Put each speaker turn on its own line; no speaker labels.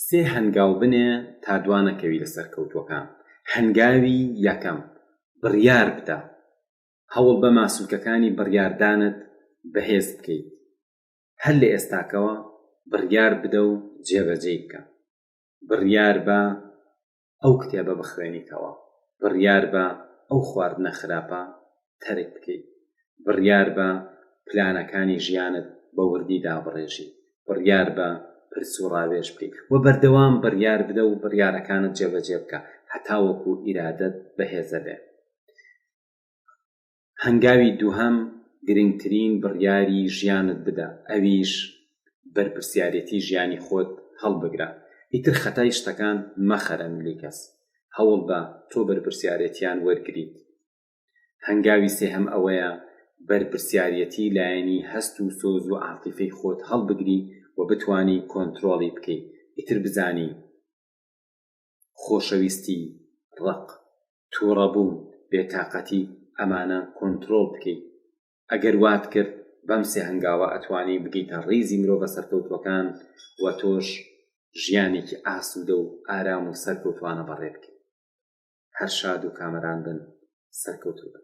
سێ هەنگاو بنێ تا دوانەکەوی لە سەرکەوتووەکان. هەنگاوی یەکەم، بڕیار بدە. هەوڵ بە ماسولکەکانی بڕیاردانت بەهێز بکەیت. هەر لە ئێستاکەوە بڕیار بدە و جێبەجێی بکە. بڕیار بە ئەو کتێبە بخوێنیتەوە بڕیاربە ئەو خواردنە خراپە تەرک بکەیت بڕیاربە پلانەکانی ژیانت بە وردی دابڕێژی بڕیاربە پرس و ڕاوێژ بکەیت و بەردەوام بڕیار بدە و بڕیارەکانت جێبەجێ بکە هەتاوەکو ئیرادەت بەهێزە بێ هەنگاوی دووهەم گرنگترین بڕیاری ژیانت بدە ئەویش بەرپرسیارێتی ژیانی خۆت هەڵبگرە ئیتر خەتای شتەکان مەخەرە ملی کەس هەوڵبە تۆ بەرپرسیارێتیان وەرگریت هەنگاوی سێهەم ئەوەیە بەرپرسیارەتی لایەنی هەست و سۆز و عاتیفەی خۆت هەڵبگری و بتانی کۆنتترۆڵی بکەیت ئیتر بزانی خۆشەویستی، ڕق، توڕەبوون، بێتاقەتی ئەمانە کۆنترۆڵ بکەی. ئەگەر وات کرد بەم سێ هەنگاوە ئەتوانی بگەیتە ڕیزی مرۆڤە سەرکەوتووەکان و تۆش ژیانێکی ئاسوودە و ئارام و سەرکەوتوانە بەڕێ بکەی. هەر شاد و کامەران بن سەرکەوتوو بن.